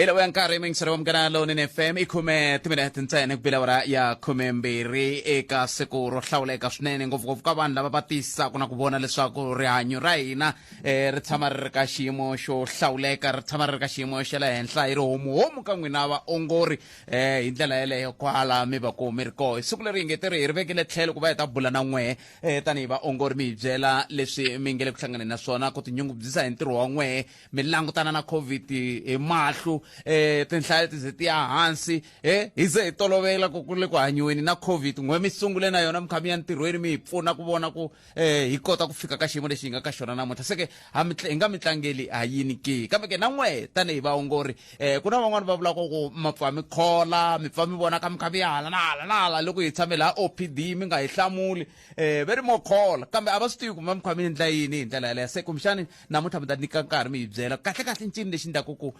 ila ya nkarhi mingisero wa mugana lowunene fm i khume timinete ntsena ku bila ora ya khume mbirhi eka siku ro hlawuleka swinene ngopfungopfu ka vanhu lava va tiyisisaka na ku vona leswaku rihanyo ra hina eh, ri tshama ri ri ka xiyimo xo hlawuleka ri tshama ri ri ka xiyimo xa le henhla hi ri homuhomu ka n'wina vaongori eh, hi ndlela yeleyo kwala mi va ku mi ri koho hi siku leri hi nge tiri hi ri vekele tlhelo ku va hi ta bula na n'wehe eh, tanihi vaongori mi hi byela leswi mi nge le ku hlanganeni na swona ku tinyungubyisa hi ntirho wa n'wehe mi langutana na covid hi mahlu eh tinhlayo ti ze ti ya hansi eh hi ze hi tolovela ku ku le ku hanyiweni na covid n'we mi sungule na yona mi kha mi ya ntirhweni mi hi pfuna ku vona ku eh hi kota ku fika ka xiyimo lexi hi nga ka xona namuntlha se ke ha mi hi nga mi tlangeli ha yini ke kambe ke na n'we tanihi vaongori eh ku na van'wani va vulaka ku ma pfa mi khola mi pfa mi vona ka mi kha mi ya hala na hala na hala loko hi tshame laha opd mi nga hi hlamuli eh ve ri mo khola kambe a va swi tivi ku ma mi kha mi endla yini hi ndlela yaleyo se kumbexani namuntlha mi ta nyika nkarhi mi hi byela kahle kahle ncini lexi ndlaku ku um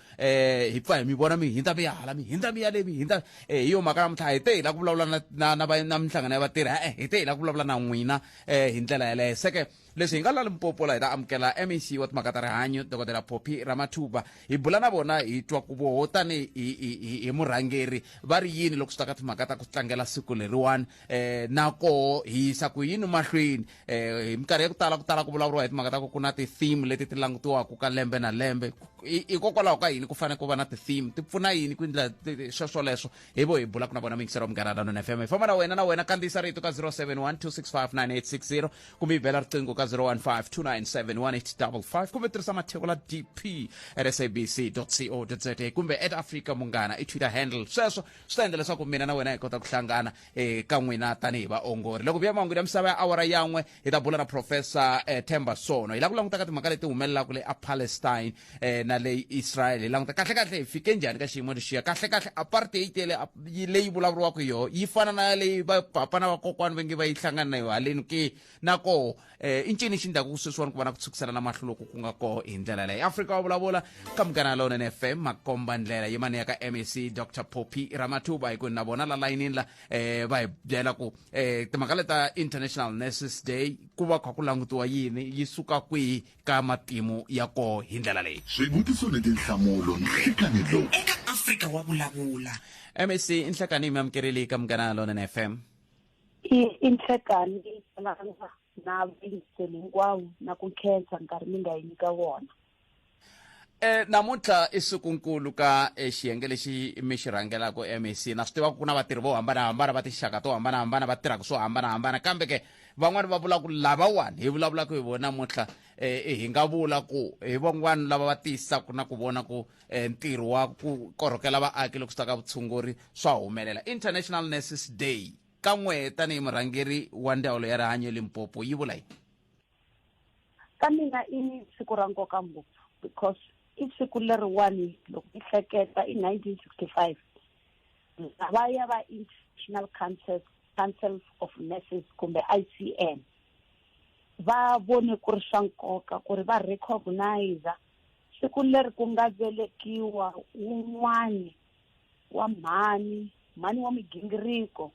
hi pfa hi mi vona mi hindza mi ya hala mi hindza mi ya le mi hindza um eh, hi yo mhaka namuntlha hi te hi la ku vulavula na minhlangano ya vatirhi e-e hi te hi la ku vulavula na n'wina um hi ndlela yeleyo seke leswi hi nga lali mpopola hi ta amukela mec wa timhaka ta rihanyo dokodela poppy ramathuba hi bula na vona hi twa ku voho tanihi hi murhangeri va ri yini loko swi ta ka timhaka ta ku tlangela siku leriwani eh na koho hi yisa ku yini mahlweni eh hi minkarhi ya ku tala ku tala ku vulavuriwa hi timhaka ta ku ku na ti-theme leti ti langutiwaka ka lembe na lembe hikokwalaho ka yini ku fanele ku va na ti-theme ti pfuna yini ku endla sweswoleswo hi vo hi bula ku na vona mingisero munghana na nona fm hi famba na wena na wena kandziyisa rito ka 071 265 kumbe yi bela riqingho ka 015 297 kumbe tirhisa matheko la dp at sabc co za kumbe at africa munghana i twitter handle sweswo swi ta endla leswaku mina na wena hi kota ku hlangana eka eh, n'wina tanihi vaongori loko vuya mahungu ya misava ya awara yan'we hi ta bula na professor eh, temba sono hi lava ku languta ka timhaka leti humelelaka le apalestine eh, na le israel hi languta kahlekahle hi fike njhani ka xiyimo lexiya kahlekahle apartheid yele leyi vulavuriwaka hi yoho yi fana na leyi vapapa na vakokwani va nge va yi hlangana na yo haleni ke na koho eh, i ncini xi ndlaku sweswiwani ku va na ku tshukisana na mahlo loku ku nga koho hi ndlela leyi afrika wa vulavula ka munghana lowunene fm makomba ndlela yimani ya ka mac dr poppy ramathuba hi ku na vona la layinini la eh, va hi byela ku eh, timhaka leta international nurses day ku va kha ku langutiwa yini yi suka kwihi ka matimu ya koho hi ndlela leyi swivutiso ni tinhlamulo nhlikani lowu eka afrika wa vulavula mac i nhlakani yi mi amukerile ka munghana lowunene fm i i nhlekani leyi fanaka na vuyiseli hinkwavo na ku nkhensa nkarhi mi nga yi nyika vona E, namuntlha i sikunkulu ka e, xiyenge lexi mi xi rhangelaka mec na swi tivaka ku na vatirhi vo hambanahambana va tinxaka to hambanahambana va tirhaka swo hambanahambana kambe ke van'wani va vula ku lavawani hi vulavulaka hi vona namuntlha e, hi nga vula ku hi van'wani lava va tiyisaka na ku vona ku eh, ntirho wa ku korhokela vaaki loko swi ta ka vutshunguri swa humelela international nurses day ka n'we tanihi murhangeri wa ndzawulo ya rihanyo limpopo yi vula yini ka mina i siku ra nkoka ngopfu because i siku leriwani loko i hleketa i nineteen sixty five va ya va international council council of nurses kumbe i c n va vone ku ri swa nkoka ku ri va recognize siku leri ku nga velekiwa wun'wani wa mhani mhani wa migingiriko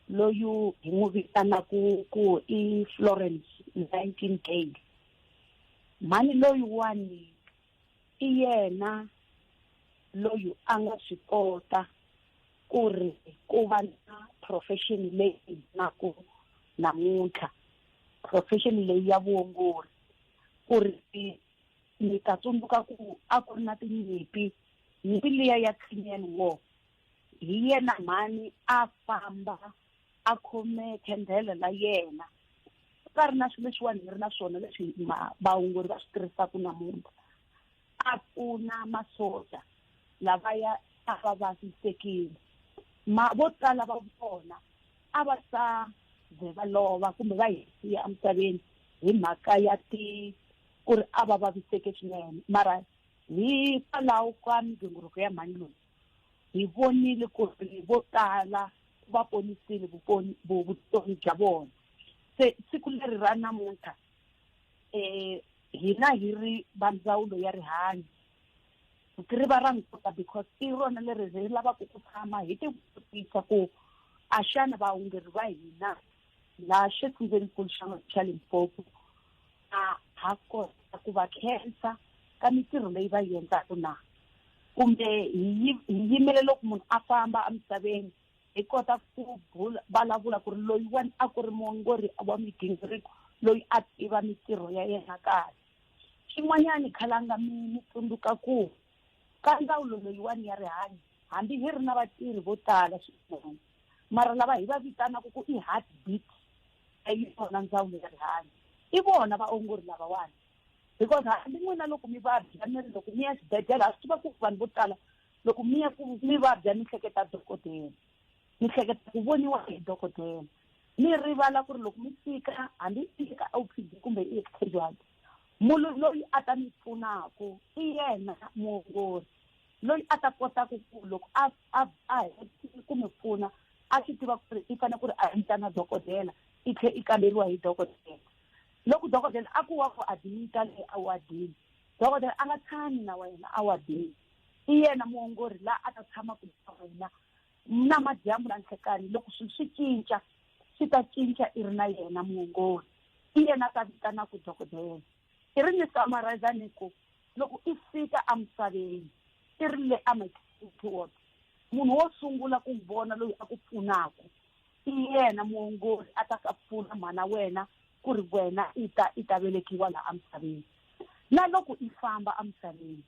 loyu hi n'wi vitanaku ku i florence nineteen gay mhani loyiwani i yena loyi a nga swi kota ku ri ku va na profession leyi na ku namuntlha profession leyi ya vuongori ku ri ni ta tsundzuka ku a ku ri na tinyimpi nyimpi liya ya Crimean War hi yena mhani a famba a khome khendhele la yena ku nga ri na swilo leswiwani hi ri na swona leswi vaongori va swi tirhisaka namuntlha a pfuna masocha lavaya a va vavisekile ma vo tala va vona a va ta ze va lova kumbe va hi siya emisaveni hi mhaka ya ti ku ri a va vaviseke swinene mara hikwalaho ka migingiriko ya mhani loyi hi vonile ku ri vo tala va ponisile vutomi bya vona se siku leri ra namuntlha um hina hi ri va ndzawulo ya rihanyo ri va ra nkoka because i rona leri ri lavaka ku tshama hi tivutisa ku a xana vaongeri va hina laha xifundzenikulu xa xa limpopo a ha kota ku va khensa ka mitirho leyi va yi endlaka na kumbe hi yimele loko munhu a famba emisaveni hi kota ku vulavula ku ri loyiwani a ku ri muongori wa migingiriko loyi a tiva mitirho ya yena kahle Xin'wanyana, khalanga mi mi tsundzuka ku ka ndzawulo leyiwani ya rihanyo hambi hi ri na vatirhi vo tala swinene mara lava hi va vitanaka ku i heart beat ya yona ndzawulo ya rihanyo i vona vaongori lavawani because hambi n'wina loko mi vabya mi ri loko mi ya xibedhlele ha swi tiva ku vanhu vo tala loko mi ya ku mi vabya mi hleketa dokodela mi hleketa ku voniwa hi dokodela mi rivala ku ri loko mi fika hambi i eka o p d kumbe i eka casualty munhu loyi a ta mi pfunaka i yena muongori loyi a ta kotaka ku loko a a a hetile ku mi pfuna a swi tiva ku ri i fanele ku ri a endla na dokodela i tlhela i kamberiwa hi dokodela loko dokodela a ku wa ku adimita leyi awadini dokodela a nga tshami na wena awadini i yena muongori la a ta tshama ku wena na madyambu na nhlekanyi loko swilo swi cinca swi ta cinca i ri na yena muongori i yena ta vitanaku dokodela i ri ni summarize ni ku loko i fika emisaveni i ri le amatity ward munhu wo sungula ku vona loyi a ku pfunaka i yena muongori a ta ka pfuna mhana wena ku ri wena i ta i ta velekiwa laha emisaveni na loko i famba emisaveni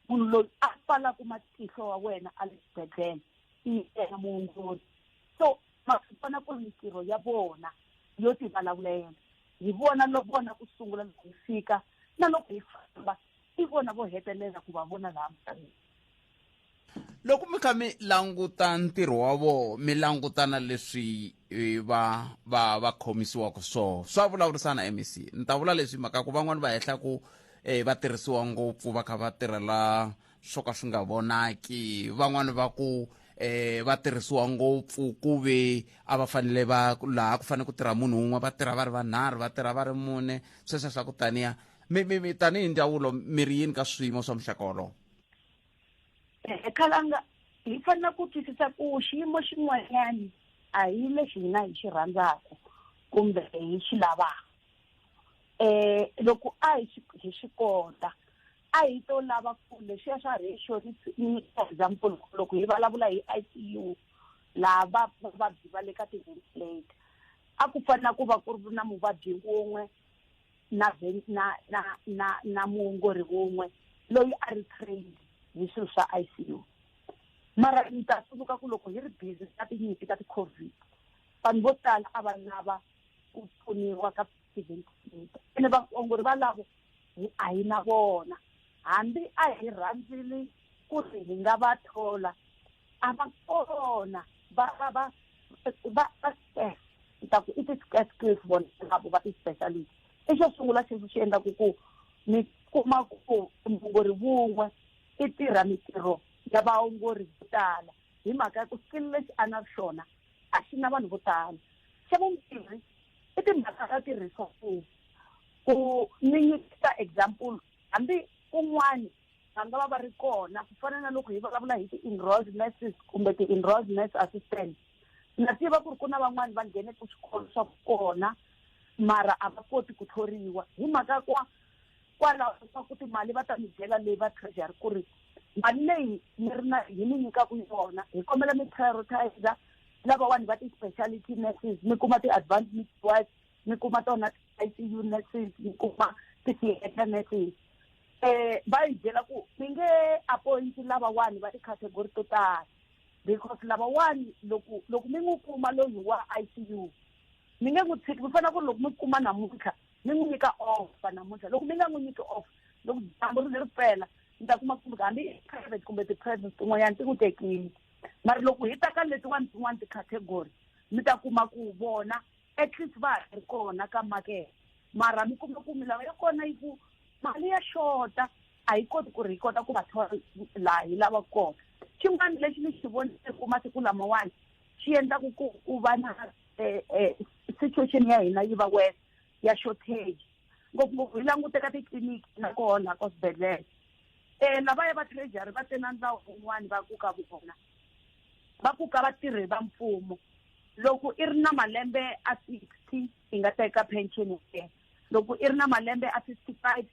munhu loyi a pfalaka matihlo wa wena a le xibedhlele i yena muongori so ma swi vona ku ri mintirho ya vona yo ti vulavulela hi vona loko vona ku sungula loko hi fika na loko hi famba i vona vo hetelela ku va vona laha misaveni loko mi kha mi languta ntirho wa vona mi langutana leswi i va va va khomisiwaka swona swa vulavurisana mec ni ta vula leswi mhaka ku van'wani va hehla ku um va tirhisiwa ngopfu va kha va tirhela swo ka swi nga vonaki van'wani va ku eh va tirhisiwa ngopfu ku ve a va fanele va laha ku fanele ku tirha munhu un'we va tirha va ri vanharhu va tirha va ri mune sweswo swa ku taniya mi mi mi tanihi ndzawulo mi ri yini ka swiyimo swa muxaka wolowo khalanga hi fanele ku twisisa ku xiyimo xin'wanyani a hi lexi hina hi xi rhandzaka kumbe hi xi lavaka um loko a hi xi hi xi kota a hi to lava ku lexiya xa ratio ni ni nyika example loko hi vulavula hi i c u laha va vavabyi va le ka ti-ventilator a ku fanele ku va ku ri na muvabyi wun'we na na na na na muongori wun'we loyi a ri trained hi swilo swa ICU mara ni ta tsundzuka ku loko hi ri busy ka tinyimpi ta ti-covid vanhu vo tala a va lava ku pfuniwa ka ti-ventilator ene vaongori valavo a hi na vona hambi a hi rhandzile ku ri hi nga va thola a va kona va va va va va stress ni ta ku i ti-stress skills vona lavo va ti-specialist i xo sungula xexi xi endlaku ku mi kuma ku muongori vun'we i tirha mitirho ya vaongori vo tala hi mhaka ya ku skill lexi a na xona a xi na vanhu vo tala xa vumbirhi i timhaka ta ti-resources ku ni nyikisa example hambi kun'wani va nga va va ri kona ku fana na loko hi vulavula hi ti-enrolled nurses kumbe ti-enrolled nurse assistant na tiva ku ri ku na van'wani va nghene ku swikolo swa kona mara a va koti ku thoriwa hi mhaka kwa kwalaho swa ku timali va ta mi byela leyi va treasury ku ri mali leyi mi ri na hi mi nyikaku yona hi kombela mi prioritizer lavawani va ti-speciality nurses mi kuma ti-advanced midwives mi kuma tona ti-icu nurses mi kuma ti-theatre nurses um va hi byela ku mi nge appointi lavawani va ticategori to tala because lavawani loko loko mi n'wi kuma loyi wa i c u mi nge n'wi tshiki mi fanele ku ri loko mi kuma namuntlha mi n'wi nyika offa namuntlha loko mi nga n'wi nyiki offa loko dyambu ri ri pela ni ta kuma kumbe hambi private kumbe ti-private tin'wanyana ti n'wi tekile mara loko hi ta ka letiwani tin'wani ti-category mi ta kuma ku vona at least va ha ri kona ka makete mara mi kuma ku milawu ya kona yi ku mali ya xota a yi koti ku ri yi kota ku va thola laha yi lava kona xin'wana lexi ni xi vonile ku masiku lamawani xi endlaku ku ku va na eh, eh, situation ya hina yi va wes ya shortage ngopfungopfu hi languteka titliniki na kona ka swibedhlele um lavaya va treasury va te na ndlawu un'wani va ku ka vona va ku ka vatirhi va mfumo loko i ri na malembe a sixty i nga teka pension ya loko i ri na malembe a fifty five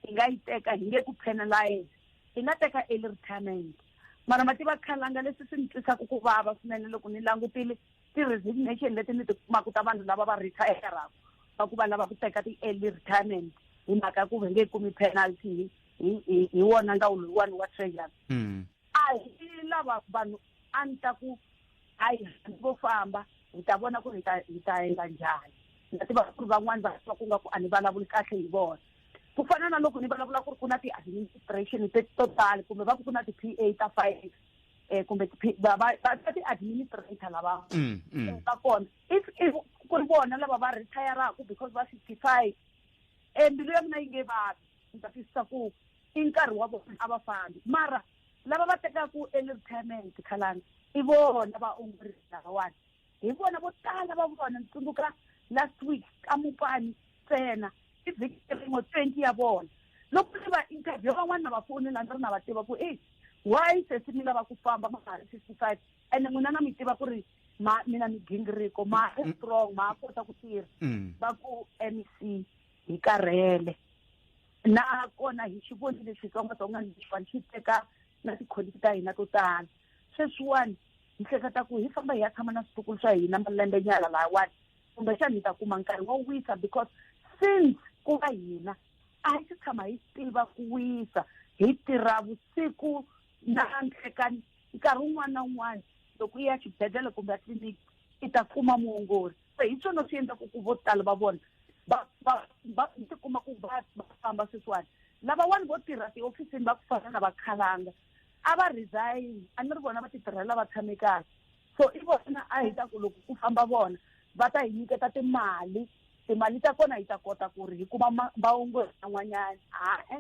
i nga yi teka hi nge ku penalize i nga teka early retirement mara ma tiva khalanga leswi swi ni twisaka ku vava swinene loko ni langutile ti-resignation leti ni ti kumaka ta vanhu lava va retayeraka va ku va lava ku teka ti-early retirement hi mhaka ya ku va nge kumi penalty hi hi hi wona ndawulo yiwani wa treasury hmm. A hi lava vanhu a ni ta ku a hi vo famba hi ta vona ku ri hi ta hi ta endla njhani ni ta tiva ku ri van'wani va va ku nga ku a ni vulavuli kahle hi vona ku fana na loko ni vulavula ku ri ku na ti-administration te to tala kumbe va ku ku na ti-p a ta five um kumbe va va va ti-administrator lava mm, mm. Eh, va kona if if ku ri vona lava va retayaraku because va fifty five um mbilu ya mina yi nge vavi ni ta twisisa ku i nkarhi wa vona a va fambi mara lava va tekaka early retirement khalani i vona vaongori lavawani hi vona vo tala va vona ni tsundzuka last week ka mupani ntsena i vhiki rin'we twenty ya vona loko ni va interview van'wana na va fonela ni ri na va tiva ku e why sesi mi lava ku famba ma ha ri fifty five ene n'wina na mi tiva ku ri ma mina mi gingiriko ma ri mm. strong ma kota ku tirha mm. va ku mec hi karhele nakona hi xi vonile xitsongwatsongwana lexiwani xi teka na tikholiti ta hina to tala sweswiwani hi hleketa ku hi famba hi ya tshama na switukulu swa hina malembe nyala lahawani kumbexani hi ta kuma nkarhi wo wisa because since ku va hina a hi si tshama hi tiva ku wisa hi tirha vusiku na nhlekani nkarhi wun'wana na wun'wana loko i ya xibedhlele kumbe tliliniki i ta kuma muongori se hi swona swi endlaku ku vo tala va vona va va va tikuma ku va va famba sweswiwani lavawani vo tirha tihofisini va ku fana na vakhalanga a va resign a ni ri vona va titirhela va tshame kahle so i vona a hi ta ku loko ku famba vona va ta hi nyiketa timali timali ta kona hi ta kota ku ri hi kuma ma- vaongori van'wanyana hae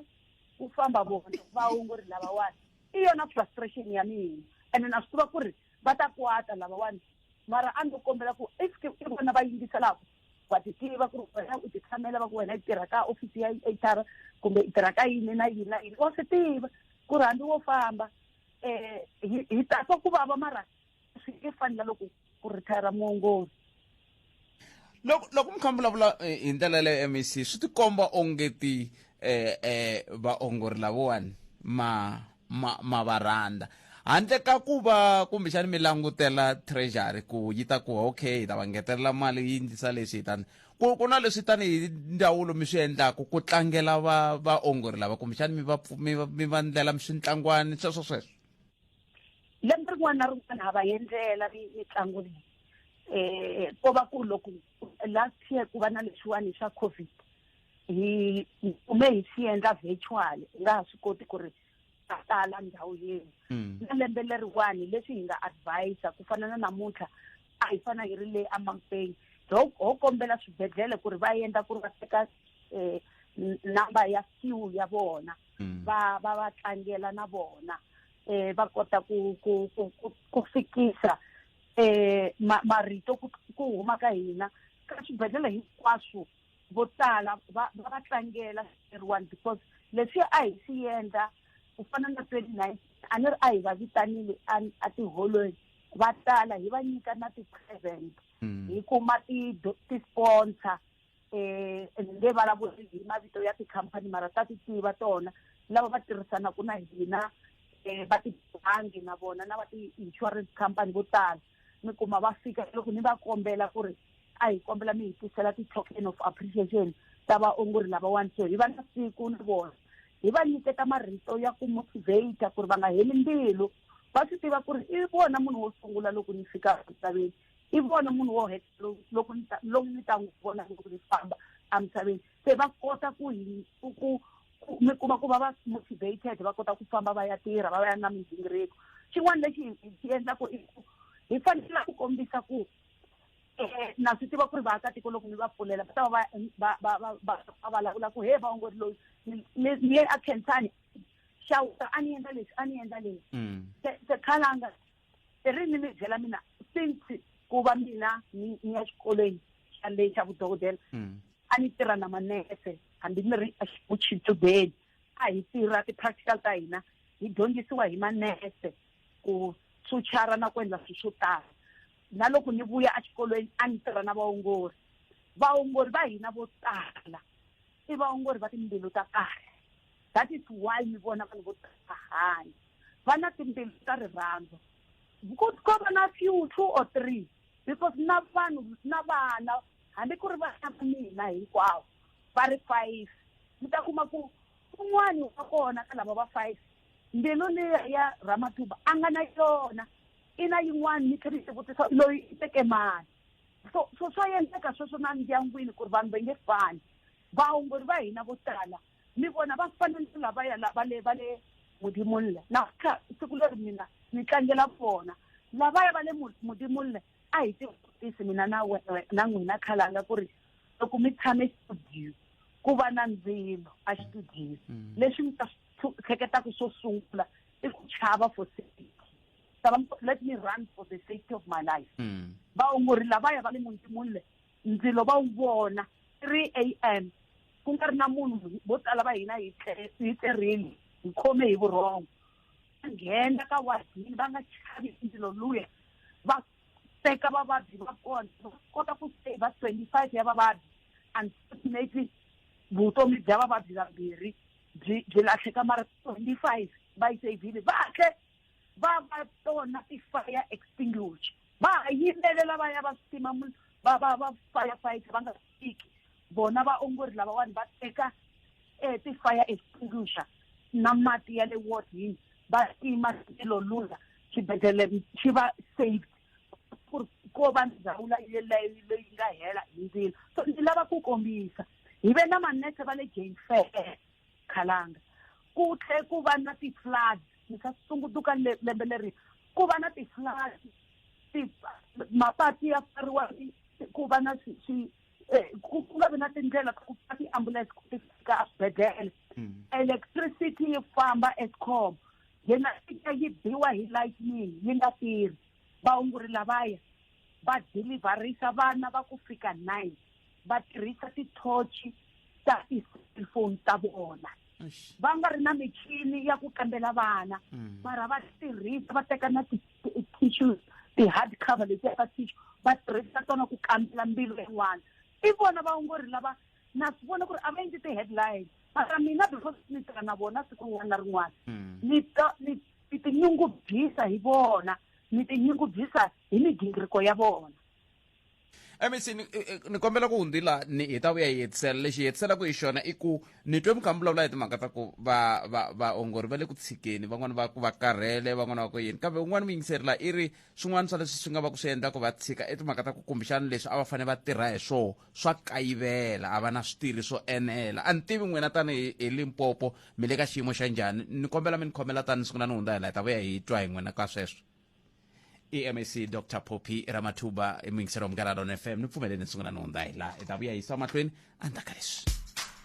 ku famba vona vaongori lavawani i yona frustration ya mina ene na swi tiva ku ri va ta kwata lavawani mara a ndo kombela ku if ke i vona va yingiselaka wa ti tiva ku ri wena u ti tshamela va ku wena i tirha ka ofisi ya hr kumbe i tirha ka yini na yini na yini wa swi tiva ku ri hambi wo famba um hi tatwa ku vava mara swi nge fani na loko ku retire muongori loko loko mi kha mi vulavula eh, hi ndlela yaleyo mec swi tikomba ongeti eh eh vaongori lavawani ma ma ma va rhandza handle ka ku va kumbexani mi langutela treasury ku yi ta ku okay hi ta va ngetelela mali yi ndlisa leswi hi tani ku ku na leswi tanihi ndzawulo mi swi endlaku ku tlangela va vaongori lava kumbexani mi va pfu- mi va mi va ndlela mi swi ntlangwani sweswo sweswo lembe rin'wana na rin'wana ha va yendlela mitlangu leyi eh ko va ku loko last year ku va na leswiwani swa covid hi kume hi swi endla virtual u nga ha swi koti ku ri a tala ndhawu yini mm. na lembe leriwani leswi hi nga advisa ku fana na namuntlha a hi fana hi ri le amampeni ho kombela swibedhlele ku ri va endla ku ri va teka um number ya few ya vona mm. va va va tlangela na vona eh va kota ku ku ku, ku, ku fikisa eh ma, marito ku, ku huma ka hina ka swibedhlele hinkwaswo vo tala va va va tlangela eriwani because leswi a hi swi yendla ku fana na twenty nine a ni ri a hi va vitanile a tiholweni va tala hi va nyika na ti-present mm. hi kuma ti-sponsor eh nge vulavuli hi mavito ya tikhampani mara ta ti tiva tona lava va tirhisanaka na hina um va tibangi na vona na va ti-insurance company vo tala mi kuma va fika loko ni va kombela ku ri a hi kombela mi hi tisela ti-token of appreciation ta vaongori lavawani so hi va na siku ni vona hi va nyiketa marito ya ku motivate ku ri va nga heli mbilu va swi tiva ku ri i vona munhu wo sungula loko ni fika misaveni i vona munhu wo heta loko lomu ni ta n'wi vona loko ni famba emisaveni se va kota ku hi ku mi kuma ku va va motivated va kota ku famba va ya tirha va va ya na migingiriko xin'wana lexi xi endlaku i ku hi fanele ku kombisa ku eh, na swi tiva ku ri vaakatiko loko mi va pfulela va ta va va vulavula ku he vaongori loyi ni ye a khensani xawuta a ni endla leswi a ni endla leswi mm. se khalanga i ri ni mi byela mina since ku va mina ni ni ya xikolweni xa le xa vudokodela mm. a ni tirha na manese hambi ni ri exichudeni a hi tirha ti-practical ta hina hi dyondzisiwa hi manese ku tshutshara na ku endla swilo swo tala na loko ni vuya exikolweni a ni tirha na vaongori vaongori va hina vo tala i vaongori va timbilu ta kahle that is why mi vona vanhu vo tsahani va na timbilu ta rirhandzu ku ko va na few two or three because na vanhu na vana hambi ku ri vana va mina hinkwavo va ri five mi ta kuma ku un'wani wa kona ka lava va five mbilu leya ya ramatuba a nga na yona i na yin'wani ni tlhela yi xivutiso loyi i teke mani so so swa endleka sweswo na ndyangwini ku ri vanhu va nge fani vaongori va hina vo tala ni vona va fana ni lavaya lava le va le mudimoni le namuntlha siku leri mina ni tlangela vona lavaya va le mudimoni le a hi tivutisi mina na na n'wina khalanga ku ri loko mi tshame studio ku va na ndzilo a studio mm. leswi mi ta hleketaka swo sungula i ku chava for safety let me run for the safety of my life mm. vaongori lavaya va le mudimoni le ndzilo va wu vona three a m ku nga ri na munhu vo tala va hina hi hi tlerini hi khome hi vurhongo va nghena ka wadini va nga chavi ndzilo luya va teka vavabyi va kona va kota ku saver twenty five ya vavabyi unfortunately vutomi bya vavabyi vambirhi byi byi lahleka mara twenty five va yi savile va hle va va tona ti-fire extinguisher va ha yimelela va ya va swi tima va va va firefighter va nga fiki vona vaongori lavawani va teka um ti-fire extinguisher na mati ya le wardini va tima xilo lula xibedhlele xi va saved ku ri ko va ndhawu leyi leyi nga hela hi ndzilo so ndzi lava ku kombisa hi ve na manese va le jane fair khalanga ku tlhe ku va na ti-floods ni ka sungutuka lembe leri ku va na tihlasi mapati ya pfariwa ku va na eh, ku nga vi na tindlela ta ku fa tiambulense ku ti fika aswibedhlele hmm. electricity yi famba escom yena ita yi biwa hi lightning yi nga tirhi vaongori lavaya va deliverisa vana va ku fika nine va tirhisa tithochi ta ti-cellphone ta vona va nga ri na michini ya ku kambela vana mm. mara va tirhisa va teka na ti-tissue ti-hard cover leti yaka tissue va tirhisa tona ku kambela mbilu yin'wana i vona vaongori lava na swi vona ku ri a va endli ti-headline mara mina because ni tirha na vona siku rin'wana na rin'wana mm. ni tinyungubyisa hi vona ni tinyungubyisa hi migingiriko ya vona mec ni, ni kombela ku hundzi la ni hi ta vuya hi hetisela lexi hi hetiselaku hi xona i ku ni twe mukha mi vulavula hi timhaka ta ku va va vaongori va le ku tshikeni van'wana va ku va karhele van'wana va ku yini kambe un'wana muyingiseri la i ri swin'wana swa leswi swi nga va ku swi endla ku va tshika i timhaka ta ku kumbexana leswi a va fanele va tirha hi swona swa kayivela a va na switirhi swo enela a ni tivi n'wina tanihi hi limpopo mi le ka xiyimo xa njhani ni kombela mi ni khomela tani ni sungula ni hundza hi la hi ta vuya hi twa hi n'wina ka sweswo emec dr poppy ramathuba emuyingisela umnkanalo on fm nipfumeleni nisungula nonda hi laha hi ta vuya hi yisa mahlweni endzhaku ka leswi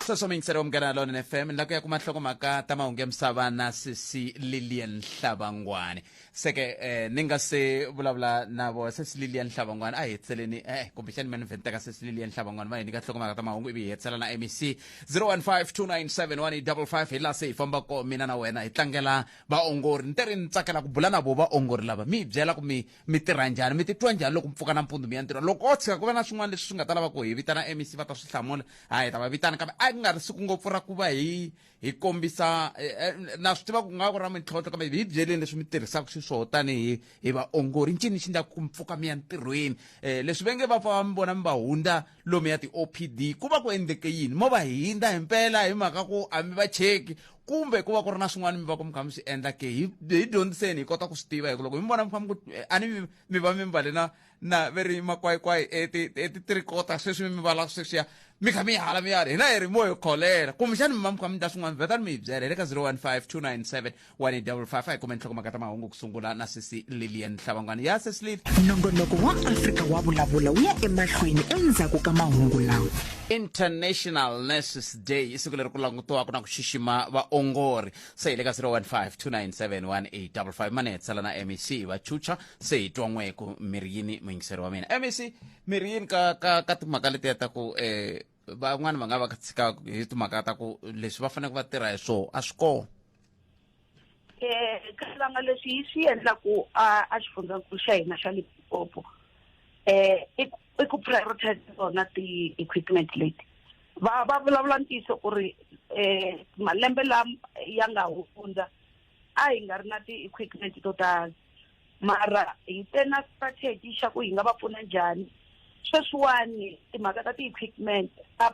sweswo miyingisela umnkanalo on fm ni la ku ya kuma nhlokomhaka ta mahungu ya misava na sisi lilian hlavangwani seke eh, ni nga se vulavula na vo sisi lilian hlavangwani a hi hetiseleni eh, kumbexani mani vhenta ka sisi lilian hlavangwani va hi nyika nhlokomhaka ta mahungu ivi hi hetisela na mec 0152971555 hi laha se hi fambako mina na wena hi tlangela vaongori ni te ri ni tsakela ku bula na vo vaongori lava mi hi byela ku mi mi tirha njhani mi titwa njhani loko mi pfuka na mpundzu mi ya ntirho loko o tshika ku va na swin'wana leswi swi nga ta lava ku hi vitana mec va ta swi hlamula a hi ta va vitana kambe a ku nga ri siku ngopfu ra ku va hi hi kombisa eh, eh, na swi tiva ku nga ku ra mintlhontlho kambe hi byeleni leswi mi tirhisaka xiswoho tanihi hi vaongori ncini xi ndlaku ku mi pfuka mi ya ntirhweni um leswi va nge va pfa va mi vona mi va hundza lomu ya ti-opd ku va ku endleke yini mo va hindza hi mpela hi mhaka ku a mi va cheki kumbe ku va ku ri na swin'wana mi va ku mi kha mi swi endla ke hi hi dyondziseni hi kota ku swi tiva hi ku loko hi mi vona mi kha mi ku eh, a ni mi- mi va mi mbale na na ve ri makwayikwayi etitirikota sweswi mi vala sweswiya mi kha mi yi hala mi yala hina hi ri mo hi kholela kumbexani mi va mi kha mi dya swin'wana vhetani mi hi byela hi le ka 015 297 wa ni double five a hi kumeni nhlokomhaka ta mahungu ku sungula na sisi lilian hlavangwana ya sisi lili nongonoko wa afrika wa vulavula wu ya emahlweni endzhaku ka mahungu lawa international nurses day i siku leri ku langutiwaka na ku xixima vaongori se hi le ka 015297185 mane tsala na mec vachucha se hi twa n'weku miriyini muyingiseri wa mina mec miriyini ka, ka, ka timhaka letiya ta ku eh, van'wana va nga va tshika hi timhaka ta ku leswi va faneleke va tirha hi swona a swi kona um ka swivanga leswi yi swi endlaku a a xifundzankulu xa hina xa limpopo um i ku i ku prioritize tona ti-equipment leti va va vulavula ntiyiso ku ri um malembe lama ya nga hundza a hi nga ri na ti-equipment to tala mara hi te na strategy xa ku hi nga va pfuna njhani sweswiwani timhaka ta ti-equipment ta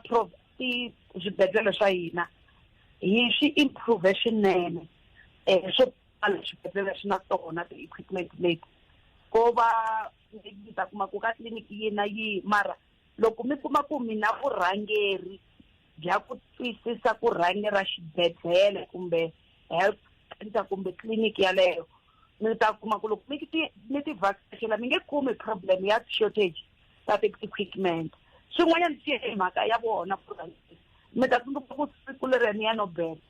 ti swibedhlele swa hina hi swi improve swinene um swo tala swibedhlele swi na tona ti-equipment leti ko va mi ta kuma ku ka tliliniki yi na yi mara loko mi kuma ku mina vurhangeri bya ku twisisa ku rhange ra xibedhlele kumbe health center kumbe tliliniki yaleyo mi ta kuma ku loko mi ti mi ti vhakachela mi nge kumi problem ya shortage ta ti-equipment swin'wanyana swi ye hi mhaka ya vona ku rhangisa mi ta tsundzuka ku siku leri ni ya no bela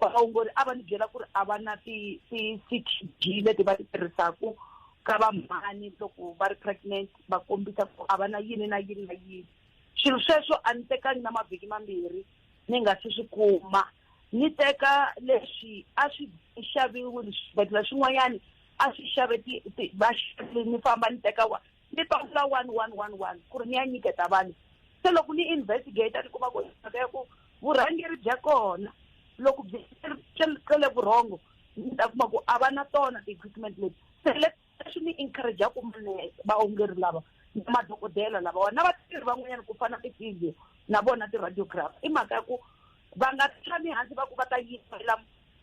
vaongori a va ni byela ku ri a va na ti-ctg leti va ti tirhisaka ka vamhani loko va ri pregnant va kombisa ku a va na yini na yini na yini swilo sweswo a ni tekangi na mavhiki mambirhi ni nga si swi kuma ni teka leswi a swi xaviwile swibedhlele swin'wanyani a swi xave va xavile ni famba ni teka wa ni pamula one one one one ku ri ni ya nyiketa vanhu se loko ni investigate ni kuma ku mhaka ya ku vurhangeri bya kona loko byi cele vurhongo ni ta kuma ku a va na tona ti-equipment leti se le leswi ni encouragea ku mane vaongeri lava na madokodela lavawa na vatirhi van'wanyana ku fana tivideo na vona ti-radiographer i mhaka ya ku va nga tshami hansi va ku va ta yimela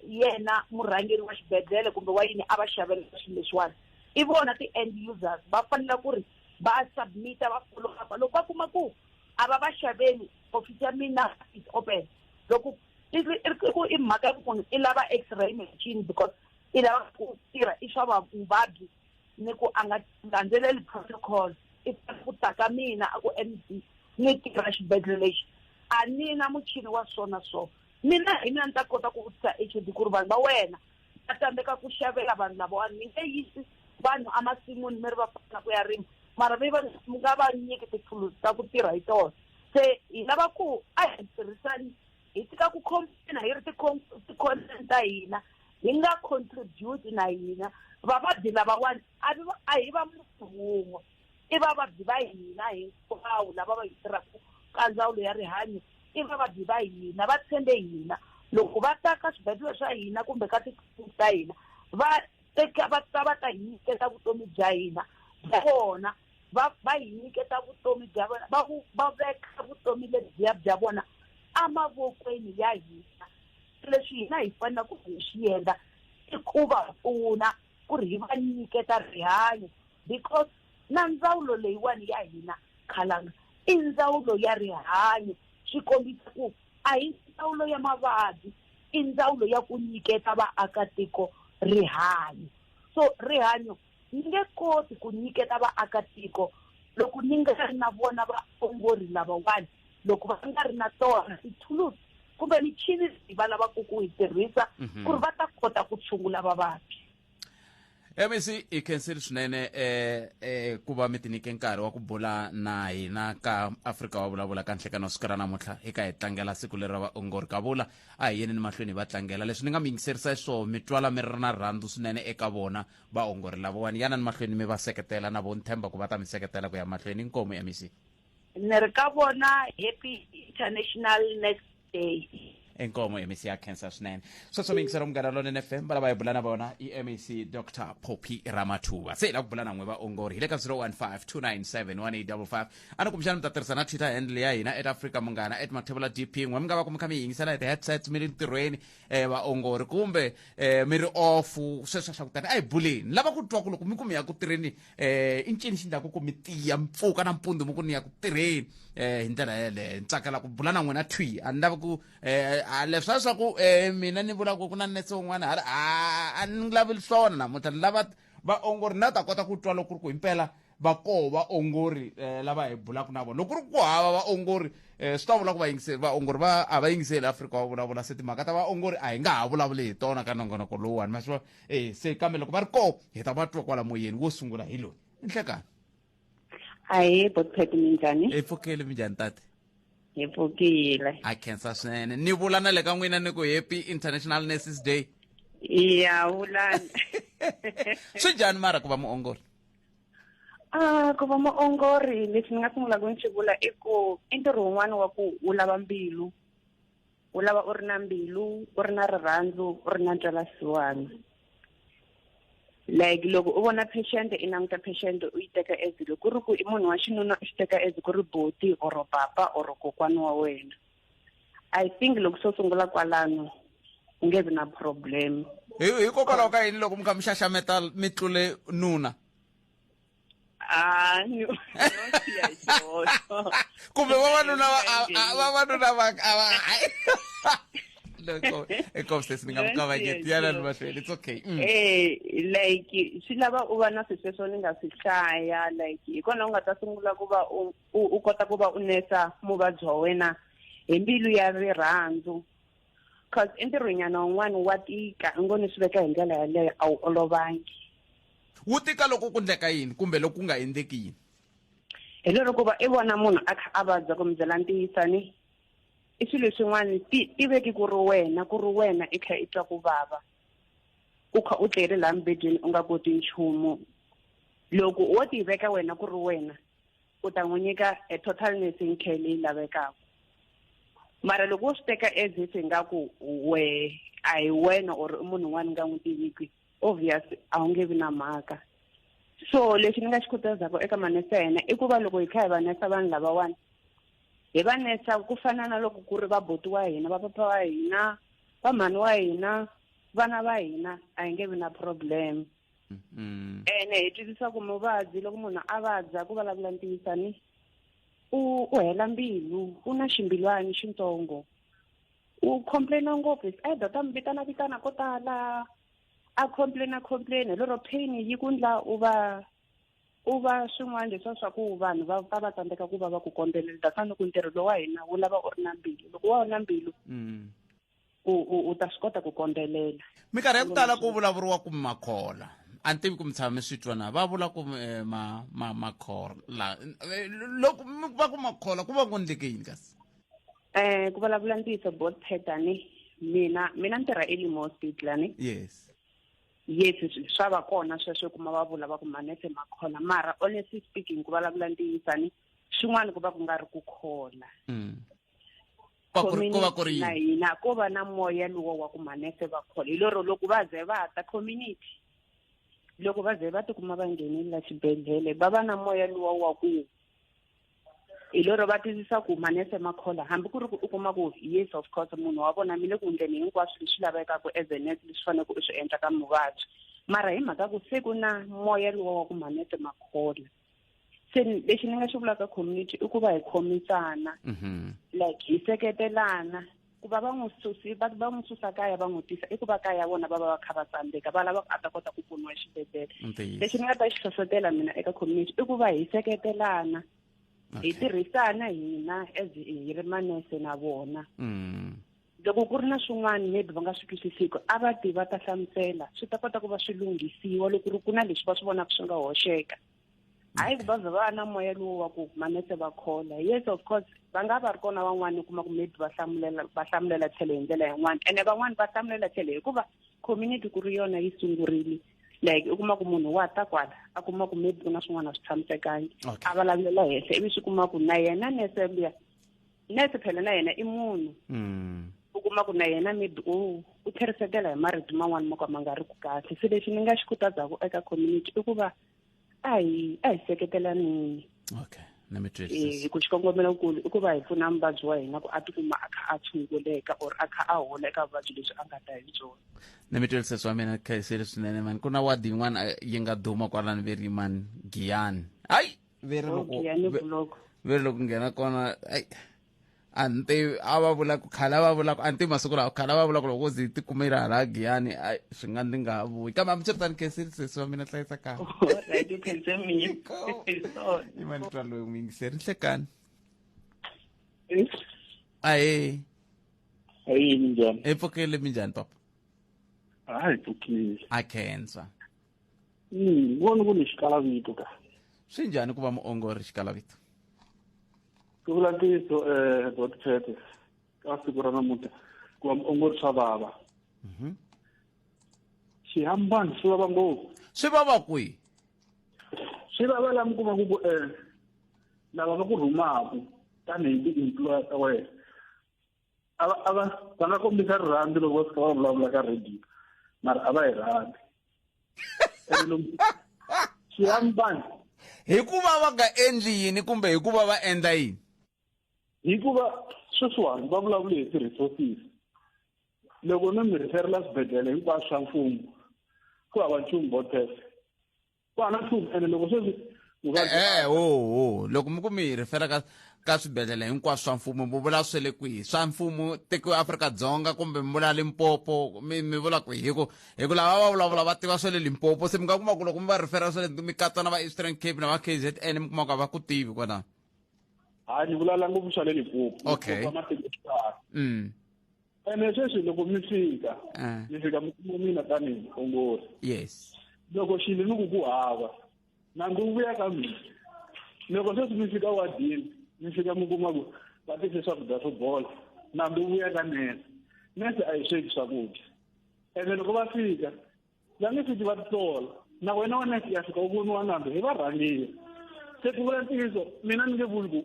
yena murhangeri wa xibedhlele kumbe wa yini a va xavela swilo leswiwani i vona ti-end users va fanele ku ri va submita va follow up loko va kuma ku a va va xaveli ofisi ya mina is open loko i ku i mhaka ya ku munhu i lava x-ray machine because i lava ku tirha i swa vavabyi ni ku a nga landzeleli protocol i fanele ku ta ka mina a ku m d ni tirha xibedhlele lexi a ni na muchini wa so na so mina hi mina ni ta kota ku vutisa h d ku ri vanhu va wena va tsandzeka ku xavela vanhu lavawani mi nge yisi vanhu emasin'wini mi ri va fana ku ya rima mara mi va mi nga va nyiki tithulusi ta ku tirha hi tona se hi lava ku a hi tirhisani hi tshika ku complaina hi ri ti-content ta hina hi nga contribute na hina vavabyi lavawani a hi va munhu wun'we i vavabyi va hina hinkwawo lava va hi tirhaka ka ndzawulo ya rihanyo i vavabyi va hina va tshembe hina loko va ta ka swibedhlele swa hina kumbe ka titliliniki ta hina va teka va ta va ta hi nyiketa vutomi bya hina bya vona va va hi nyiketa vutomi bya vona va vu va veka vutomi lebyiya bya vona emavokweni ya hina leswi hina hi fanela ku hi swi endla i ku va pfuna ku ri hi va nyiketa rihanyo because na ndzawulo leyiwani ya hina khalanga i ndzawulo ya rihanyo swi kombisa ku a hi ndzawulo ya mavabyi i ndzawulo ya ku nyiketa vaakatiko rihanyo so rihanyo Ni nge koti ku nyiketa vaakatiko loko ni nga ri na vona vaongori lavawani, loko va nga ri na tona tithulusi kumbe michini leyi va lavaka ku yi tirhisa mhm. ku ri va ta kota ku tshungula vavabyi. MEC hi khensile swinene eh, eh, ku va mi tinyike nkarhi wa ku bula na hina ka Afrika wa vulavula ka nhlekano siku ra namuntlha hi ka hi tlangela siku leri ra vaongori ka vula a hi yeni ni mahlweni hi va tlangela leswi ni nga mi yingiserisa hi swona mi twala mi ri na rhandzu swinene eka vona vaongori lavawani yana ni mahlweni mi va seketela na vo ni tshemba ku va ta mi seketela ku ya mahlweni inkomu mec ni ri ka vona happy international next day inkomo mec ya cancer swinene sweswo miyingisela munghana lonene f m valava hi bula na vona i mec dr poppy ramathuva se hi la ku bula na n'we vaongori hi le ka 0152971855 a ni kumbexana mi ta tirhisa na twitter handle ya hina at africa munghana at mathevula dp n'we mi nga va ku mi kha mi yingisela hi ti-headsets mi ri ntirhweni eh vaongori kumbe eh mi ri off sweswo swa kutani a hi buleni lava ku twa ku loko mi ku mi ya ku tirheni eh i ncini xi ndlaku ku mi tiya mpfuka na mpundu mi ku ni ya ku tirheni eh hi ndlela yeleyo ni tsakela ku bula na n'wina thwi a ni lavi ku eh leswa swa ku eh mina ni vula ku ku na nese un'wana hala a ni lavi swona namuntlha ni lava vaongori na ta kota ku twa loko ku ri ku himpela va koho vaongori eh, lava hi bulaka na vona loko ri ku hava vaongori eh, swi ta vula ku vayingiseli vaongori va a va yingiseli afrika va vulavula se timhaka ta vaongori a hi nga ha vulavuli hi tona ka nongonoko lowuwani ma swi vona eh, se kambe loko va ri koho hi ta va twa kwala moyeni wo sungula hi loyi nhlekani ahee botpet minjhani hi pfukile minjhani tate hi pfukile ha khensa swinene ni vula na le ka n'wina ni ku happy international nurses day ya vulani swi njhani mara ku va muongori Ah, ku va muongori lexi ni nga sungulaka ni xi vula i ku i ntirho wun'wana wa ku wu lava mbilu wu lava u ri na mbilu u ri na rirhandzu u ri na ntwelasiwana like loko u vona patient i languta patient u yi teka as loko ku ri ku i munhu wa xinuna u xi teka as ku ri buti or papa or kokwana wa wena i think loko swo sungula kwalano u nge vi na problem hikokwalaho ka yini loko mi kha mi xaxameta mi tlule nuna hayi kumbe vavanuna vavanuna va hayi loko ekobsesi ni nga mu kavanyeti yana ni mahlweni it's okay mm. eh like swi lava u va na swisweswo ni nga swi hlaya like hi kona u nga ta sungula ku va u u u kota ku va u nesa muvabyi wa wena hi mbilu ya rirhandzu cause entirhwenyana wun'wani wa tika i ngo ni swi veka hi ndlela yaleyo a wu olovangi wu tika loko ku ndleka yini kumbe loko ku nga endleki yini hi lero ku va i vona munhu a kha a vabya ku mi byela ntiyisani i swilo swin'wana ti ti veki ku ri wena ku ri wena i kha i twa ku vava u kha u tleri laha mibedweni u nga koti nchumu loko wo tiveka wena ku ri wena u ta n'wi nyika a total nursing care leyi lavekaka mara loko wo swi teka as if ingaku we a hi wena or i munhu un'wana ni nga n'wi tiviki obvious a wu nge vi na mhaka so lexi ni nga xi khutazaka eka manesa ya hina i ku va loko hi kha hi va nesa vanhu lavawani hi va nesa ku fana na loko ku ri va boti wa hina va papa wa hina va mhani wa hina vana va hina a hi nge vi na problem mm-hmm. ene hi twisisa ku muvabyi loko munhu a vabya ku vulavula ntiwisani u u hela mbilu u na ximbilwani xintsongo u complaina ngopfu is either ta mi vitana vitana ko tala a complaina complaina lero pain yi ku ndla u va u va swin'wana leswa swa ku vanhu va va va tsandzeka ku va va ku kondzelela tafana loko ntirho lowa hina wu lava u ri na mbilu loko wa wu na mbilu mm. u u u ta swi kota ku kondzelela minkarhi ya ku tala ku vulavuriwa ku makhola a ni tivi ku mi tshama mi swi twa na va vula ku eh, ma ma makhola eh, loko mi va ku makhola ku va ku endleke yini kasi um ku vulavula ntiyiso bot pattern mina mina ni tirha elimo hospital ani yes yes swa va kona sweswo kuma va vula va ku manese makhola mara honestly speaking ku vulavula ntiyisani xin'wana ku va ku nga ri ku khola mm. va ku ri ko va ku ri na yini hina ko va na moya luwa wa ku manese va khole hi lero loko va ze va ta community loko va ze va tikuma va nghenile la xibedhlele va va na moya luwa wa ku hi lero va twisisa ku manese ma khola hambi ku ri ku u kuma ku yes of course munhu wa vona mi le ku endleni hinkwaswo leswi lavekaka as a nurse leswi faneleke u swi endla ka muvabyi mara hi mhaka ku se ku na moya luwa wa ku manese ma khola se lexi ni nga xi vulaka community i ku va hi khomisana mm-hmm. like hi seketelana ku va va n'wi susi va va n'wi susa kaya va n'wi tisa i ku va kaya vona va va va kha va tsandzeka va lava a ta kota ku pfuniwa exibedhlele lexi ni nga ta xi hlohlotela mina eka community i ku va hi seketelana hi tirhisana hina as hi ri manese na vona mm. loko ku ri na swin'wana maybe va nga swi twisisiki a va ti va ta hlamusela swi ta kota ku va swi lunghisiwa loko ri ku na leswi va swi vonaka swi nga hoxeka hayi ku va vhe va na moya lowu wa ku manese va khola yes of course va nga va ri kona van'wana u kuma ku maybe va hlamulela va hlamulela tlhelo hi ndlela yin'wana ene van'wana va hlamulela tlhelo hikuva community ku ri yona yi sungurile like u kuma ku munhu wa ta kwala a kuma ku maybe ku na swin'wana a swi tshamisekangi a vulavulela henhla ivi swi kuma ku na yena nese luya nurse phela na yena i munhu mm. u kuma ku na yena maybe u u tlherisekela hi marito man'wana mo ka ma nga ri ku kahle se lexi ni nga xi khutazaka eka community i ku va a hi a hi seketelanini okay eh, hi ku xikongomelokulu i ku va hi pfuna muvabyi wa hina ku a tikuma a kha a tshunguleka or a kha a hola eka vuvabyi lebyi a nga ta hi byona ni mi twisise swa mina khayiseli swinene mani ku na wadi yin'wana eh, yi nga duma kwalani verimani giyani hayi ve ri loko Okay, ya ni ve- block. ve ri loko nghena kona ai a ni tivi a va vula ku khale a va vula ku a ni tivi masiku lawa khale a va vula ku loko zi ti kumela hala giyani ai swi nga ndzi nga ha vuyi kambe hambiswiritani khensile sesi wa mina hlayisa kaya Alright, you can send me. Sorry. i mani twa loyi n'wi yingiseri nhlekani ahe Hayi minjani? epfukile mi njhani papa Hayi pfukile. a khensa mm, voni ku ni xikalavito ka swi njhani ku va muongori xikalavito ku vula ntiyiso um eh, dotchete ka siku ra namuntlha ku va muongori swa vava mhm. xihambani swi vava ngopfu swi vava kwihi swi vava la mi kumaku ku um lava va ku rhumaku tanihi ti-employer ta wena a va a va va nga kombisa rirhandzu loko va fika va vulavula ka radio mara a va hi rhandzi ene lomu siyani vanhu hikuva va nga endli yini kumbe hikuva va endla yini hikuva sweswiwani va vulavule hi ti-resources loko no mi rhiferela swibedhlele hinkwaswo swa mfumo ku hava nchumu botese ku hava nchumu ene loko sweswi vuvabyi ehe hoho loko mi ku mi hi rifela ka ka swibedhlele hinkwaswo swa mfumo mi vula swe le kwihi swa mfumo tiko afrika-dzonga kumbe mi vula limpopo mi mi vula ku hi ku hi ku lava va vulavula va tiva swa le limpopo se mi nga kuma ku loko mi va rifera swa le mi katsa na va eastern cape na va k z n mi kuma ku a va ku tivi kwalano hayi ni vulavula ngopfu swa le limpopo Okay. Limpopo a ma tivi ku tala. mm. ene sweswi loko mi fika Ah. mi fika mi kuma mina tanihi muongori yes loko xilo ni ku ku hava nandzu wu vuya ka mina loko sweswi mi fika wadini mi fika mi kuma ku va tise swakudya swo bola nandzu wu vuya ka nese nese a yi sweki swakudya ene loko va fika va nge swi va titola na wena wa neke ya fika u voniwa nambe hi varhangeri se ku vula ntiyiso mina ni nge vuli ku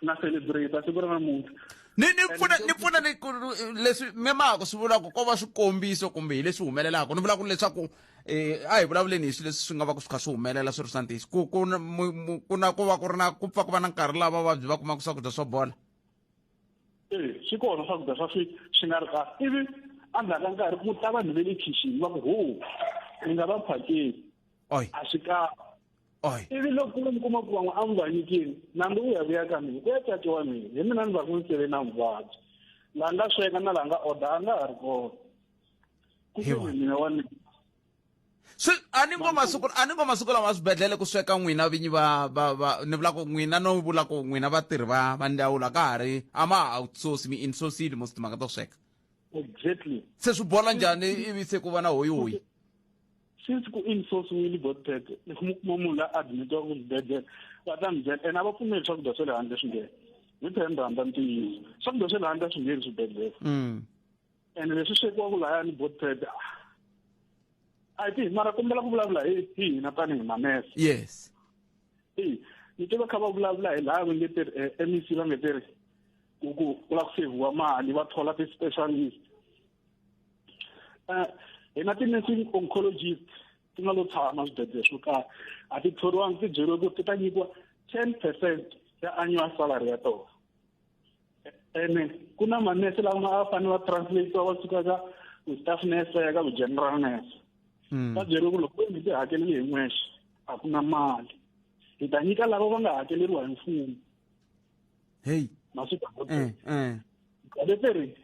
na celebrate siku ra namuntlha ni ni pfuna ni pfuna ni ku leswi memako swi vulaka ko va swikombiso kumbe hi leswi humelelaka ni vula ku leswaku um a hi vulavuleni hi swilo leswi swi nga va ku swi kha swi humelela swi ri swa ntiyiso ku ku ku na ku va ku ri na ku pfa ku va na nkarhi lava vavabyi va kumaka swakudya swo bola e swi kona swakudya swa swi swi nga ri kahle ivi endzhaku ka nkarhi ku ta vanhu ve le khixini va ku ho ni nga va phakeli a swi kahle ivi loko mi kuma ku van'we a mi va nyikini nambe u ya vuya ka mina ku ya cati wa mina hi mina ni va ku ni sele na muvabyi la nga sweka na la nga order a nga ha ri kona ku mina wa mina swi a ni ngo masiku a ni ngo masiku lama swibedhlele ku sweka n'wina vinyi va va va ni vula ku n'wina no vula ku n'wina vatirhi va va ndzawulo a ka ha ri a ma ha outsource mi insourcile most timhaka to sweka exactly se swi bola njhani ivi se ku va na hoyihoyi since ku insourciwile botpet mi kuma munhu la admitiwa ku xibedhlele va ta mi byela ena va pfumeli swakudya swa le handle swi nghena hi phemba hamba ntiyiso swakudya swa le handle a swi ngheni swibedhlele ene leswi swekiwaku laya ni botped a ti mara kombela ku vulavula hi hi hina tanihi manese yes i ni tiva kha va vulavula hi laya va nge ti ri eh, m e c va nge ti ri ku ku ku la ku seviwa mali va thola ti-specialist um hina ti-nursing oncologist ti nga lo tshama swibedlele swo karhi a ti thoriwangi ti byeriwe ku ti ta nyikiwa ten percent ya annual salary ya tona ene ku na manese lama a fanele va translate va suka ka staff nurse va ya ka general nurse hmm. va byeriwe ku loko mi ti hakeleli hi n'wexe a ku na mali hi ta nyika lava va nga hakeleriwa hi mfumo heyi masiku eh, eh. leteri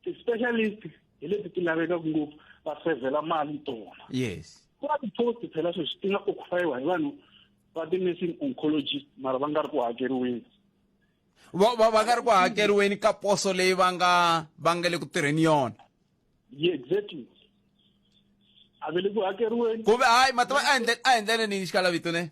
ti-specialist hi leti ti lavekaka ngopfu va sevhela mali tona yes ku va ti-post phela sweswi ti nga occupayiwa hi vanhu va ti-nursing oncologist mara va nga ri ku hakeriweni va va va nga ri ku hakeriweni ka poso leyi va nga va nga le ku tirheni yona ye exactly a ve le ku hakeriweni kumbe hayi mativa a endle a endlele ni xikala vito ne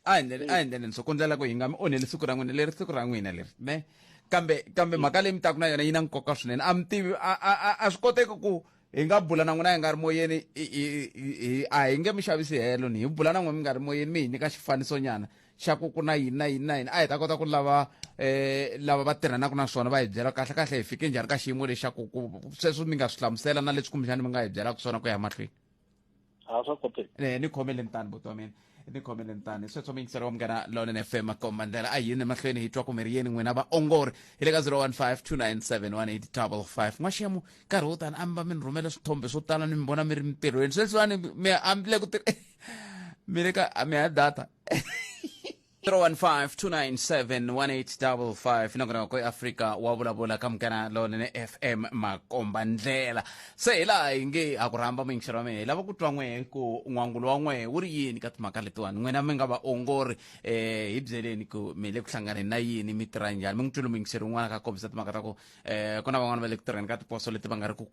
a endlele a endlele ni so kundzela ku hi nga mi onheli siku ra n'wina leri siku ra n'wina leri ne kambe kambe mhaka leyi mi taku na yona yi na nkoka swinene a mi tivi a a a a swi koteki ku hi nga bula na n'wina hi nga ri moyeni a hi nge mi xavisi helo ni hi bula na n'wina mi nga ri moyeni mi hi nyika xifaniso nyana xa ku ku na yini na yini na yini a hi ta kota ku lava eh lava va tirhanaka na swona va hi byela kahle kahle hi fike njhani ka xiyimo lexaku ku sweswo mi nga swi hlamusela na leswi kumbexani mi nga hi byelaka swona ku ya mahlweni a swa koteki eh ni khomeleni tani buti wa mina ni khomeleni tani sweswo miyingiselo wa munghana lonen f m makom mandlela a yini emahlweni hi twa kumeri yeni n'wina vaongori hi le ka 015 n'waxemu nkarhi wo tani a mi va mi ni rhumela swithombe swo tala ni mi vona mi ri mintirhweni sweswiwani mi a mi le ku mi le ka mi ya data 015297185 nakona ko afrika wa vulavula ka mukana lonene fm makomba ndlela se hi laha hi nge ha ku rhamba muyingiselo wa mina hi lava ku twa n'we ku n'wangulo wa n'we wu ri yini ka timhaka letiwani n'wina mi nga vaongori um hi byeleni ku mi le ku hlanganeni na yini mi tirha njhani mi n'wi twile muyingiseri un'wana ka kombisa timhaka ta ku eh ku na van'wana va le ku tirheni ka tiposo leti va nga ri ku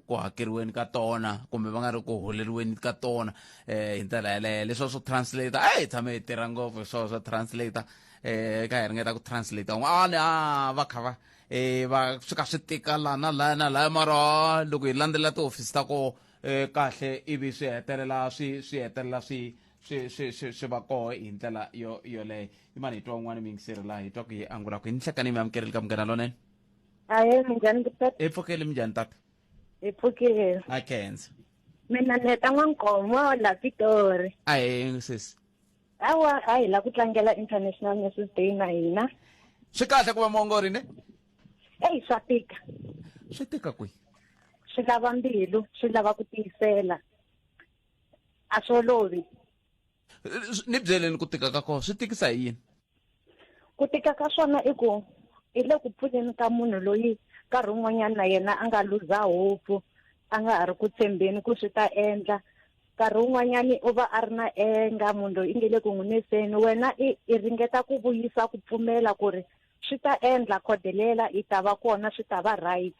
ku hakeriweni ka tona kumbe va nga ri ku holeriweni ka tona eh hi ndlela yaleyo leswo swo translator a hi tshame hi tirha ngopfu hi swona swo translator eh ka hi ringeta ku translator un'wana a ah, va kha va eh va swi ka swi tika la na la na la mara loko hi landzela tihofisi ta ko eh, kahle ivi swi hetelela swi swi hetelela swi swi swi swi swi va koho hi ndlela yo yoleyo imani hi twa un'wana mi yingiseri laha hi twa ku yi angula ku yi ni hlekani mi amukerile ka munghana lonene ahe minjhani tata hi pfukeli mi njhani tata hi pfukile a khensa mina ni heta n'wankomo la pitori ahe sesi hawa a hi la ku tlangela international nurses day na hina swi kahle ku va muongori ne eyi swa tika swi tika kwihi swi lava mbilu swi lava ku tiyisela a swi olovi ni byeleni ku tika ka kona swi tikisa hi yini ku tika ka swona i ku hi le ku pfuneni ka munhu loyi nkarhi wun'wanyana na yena a nga luza hopu a nga ha ri ku tshembeni ku swi ta endla nkarhi wun'wanyani u va a ri na enga munhu loyi i nge le ku n'wi neseni wena i i ringeta ku vuyisa ku pfumela ku ri swi ta endla khodelela i ta va kona swi ta va right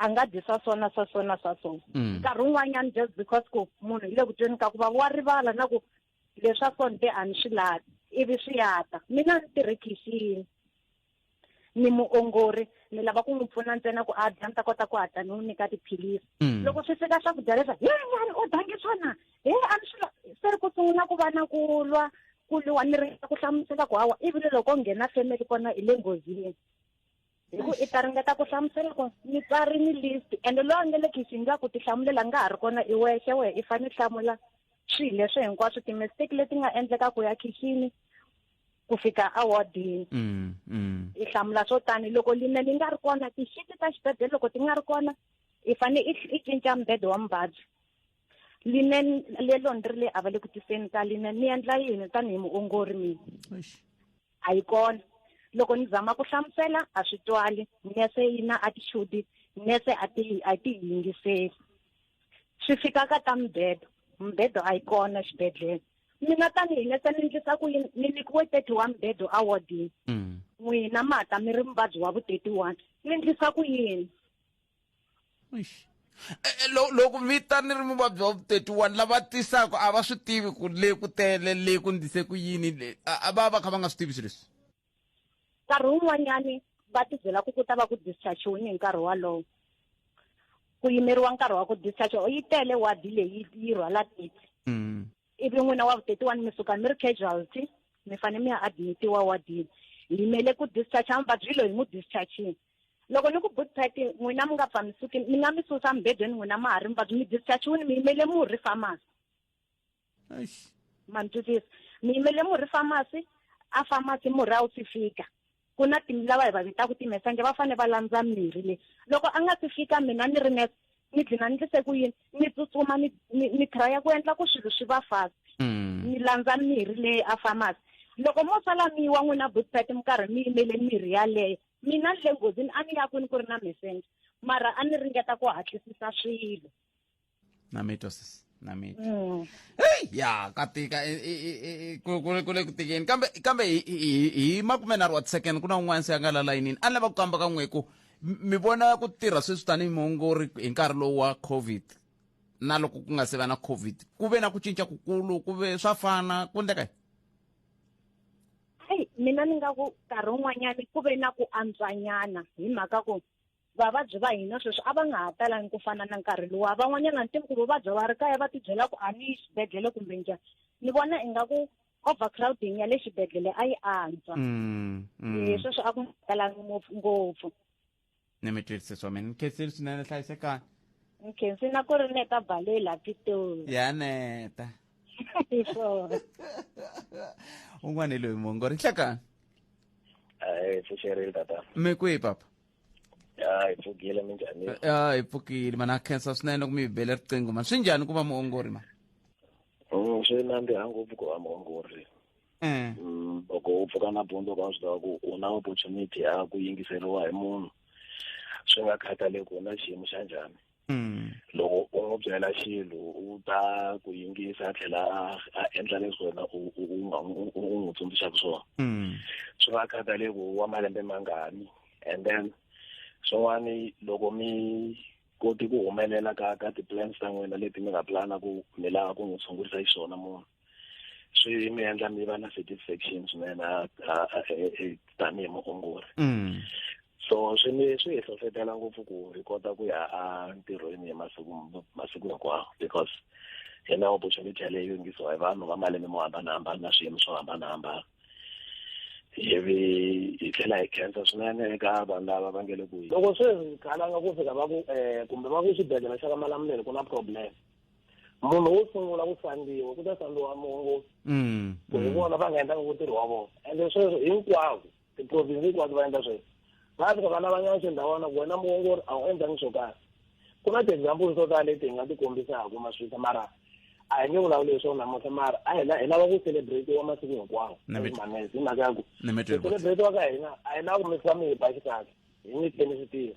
a nga dyi swa so na swa so na swa so mm. nkarhi wun'wanyana just because ku munhu hi le ku tweni ka ku va wa rivala na ku leswa so ni te a ni swi lavi ivi swi yata mina ni tirhe khixini ni muongori ni lava ku n'wi pfuna ntsena ku a dya ni ta kota ku hatla ni n'wi nyika tiphilisi mm. loko swi fika swakudya leswa he nyani u dange swona he a ni swi se ri ku sungula ku va na ku lwa ku lwa ni ringeta ku hlamusela ku hawa ivi loko nghena family kona hi le nghozini hi ku i ta ringeta ku hlamusela ku ni tswari ni list ende loyi a nge le khixini nga ku ti hlamulela nga ha ri kona i wexe wehe i fanele hlamula swilo leswi hinkwaswo timistake leti nga endleka ku ya khixini ku fika awardini mm, mm. i hlamula swo tani loko line ni nga ri kona tixiti ta xibedele loko ti nga ri kona i fane i cinca mbede wa muvabyi line lelo ni ri le a va le ku tiseni ka line ni endla yini tanihi muongori mina a yi kona loko ni zama ku hlamusela a swi twali nese yi na attitude nese a ti a ti yingiseli swi fika ka ta mbedo mbedo a yi kona xibedhlele mina tanihi nese ni ndlisa ku yini ni nyikiwe thirty one mbedo awardini mm. n'wina mata mi ri muvabyi wa vu thirty one ni ndlisa ku yini Eish. E, e, lo- loko mi ta ni ri muvabyi wa vu-31 lava tisaka a va swi tivi ku le ku tele le ku ndise ku yini le a a va va kha va nga swi tivi swilo leswi nkarhi wun'wanyani va tibyela ku ku ta va ku dischargiwini hi nkarhi walowo ku yimeriwa nkarhi wa ku discharge o yi tele wadi leyi yi rhwala titi Mm. ivi n'wina wa vu-31 mi suka mi ri casualty mi fanele mi ya admitiwa wadini hi yimele ku discharge muvabyi loyi hi n'wi dischargini loko ni ku boot party n'wina mi nga pfa mi suki mi nga mi susa mibedweni n'wina ma ha ri muvabyi mi dischargiwini mi yimele murhi famasi ma ni twisisa mi yimele murhi famasi a famasi murhi a wu si fika ku na tim lava hi va vitaka timesanje va fanele va landza mirhi leyi loko a nga si fika mina ni ri nurse ni dlina ni ndlise ku yini ni tsutsuma ni ni traya ku endla ku swilo swi va fast mm. ni landza mirhi leyi a famasi loko mo sala mi wa n'wina boot party mi karhi mi yimele mirhi yaleyo mina ni le nghozini a ni ya kwini ku ri na messenger mara a ni ringeta ku hatlisisa swilo na mi twisisa na mi mm. hey ya ka tika e, e, e, ku ku le ku tikeni kambe kambe hi makumenharhu wa second ku na un'wana se a nga la layinini a ni lava ku kamba ka n'we ku mi vona ku tirha sweswi tanihi muongori hi nkarhi lowu wa covid na loko ku nga se va na covid ku ve na ku cinca kukulu ku ve swa fana ku endleka hayi mina ni nga ku nkarhi wun'wanyani ku ve na ku antswanyana hi mhaka ku vavabyi va hina sweswi a va nga ha talangi ku fana na nkarhi luwa van'wanyana ni ku vuvabya va ri kaya va tibyela ku a ni yi xibedhlele kumbe njhani ni vona ingaku overcrowding ya le xibedhlele a yi antswa mm, mm. sweswo a ku talangi ngopfu ngopfu ni mi twisise swome ni khensini swinene hlayisekani ni khensini na ku ri neta bale la pitoni ya neta hi swona un'wana hi loyi mongo ri hlakani hayi pfuxerile tata mi kwihi papa hayi pfukile minjhani ya hi pfukile mana ha khensa swinene ku mi hi bele riqingho ma swi njhani ku va muongori ma Mm, swi nandziha ngopfu ku va muongori eh. mm, loko u pfuka nampundzu ka swi tiva ku u na opportunity ya ku yingiseriwa hi munhu swi nga khathaleki ku na xiyimo xa njhani Mm. loko u n'wi byela xilo u ta ku yingisa a tlhela a endla leswi wena u n'wi tsundzuxaka swona mm. swi nga khathaleki wa malembe mangani and then swin'wana loko mi koti ku humelela ka ka ti-plans ta n'wina leti mi nga plana ku mi lava ku n'wi tshungurisa xiswona munhu swi mi endla mi va na satisfaction swinene tanihi muongori mm. so swi mi swi hi hlohlotela ngopfu ku hi kota ku ya entirhweni hi masiku masiku hinkwawo because hi na opportunity yaleyo yingisiwa hi vanhu va malembe mo hambanahambana na swiyimo swo hambanahambana ivi hi tlhela hi khensa swinene eka vanhu lava va nge le ku loko se hi khalanga ku fika va ku um kumbe va ku xibedhlele xa ka malamuleni ku na problem munhu wo sungula ku sandiwa ku ta sandiwa mongo mm, ku hi mm. vona va nga endlaka ku tirhi wa vona ende sweswo hinkwako tiprovinsi hinkwato va endla sweswo va fika va lavanyana xindhawana ku wena muongori a wu endlangi swo karhi ku na ti-example to tala leti hi nga ti kombisaka maswita mara a hi nge vulavuli hi swona namuntlha mara a hi hi lava ku celebratiwa masiku hinkwawo manese hi mhaka ya ku ku celebratiwa ka hina a hi lava ku mikisa mihiba xikahle hi nyikeni swi tirha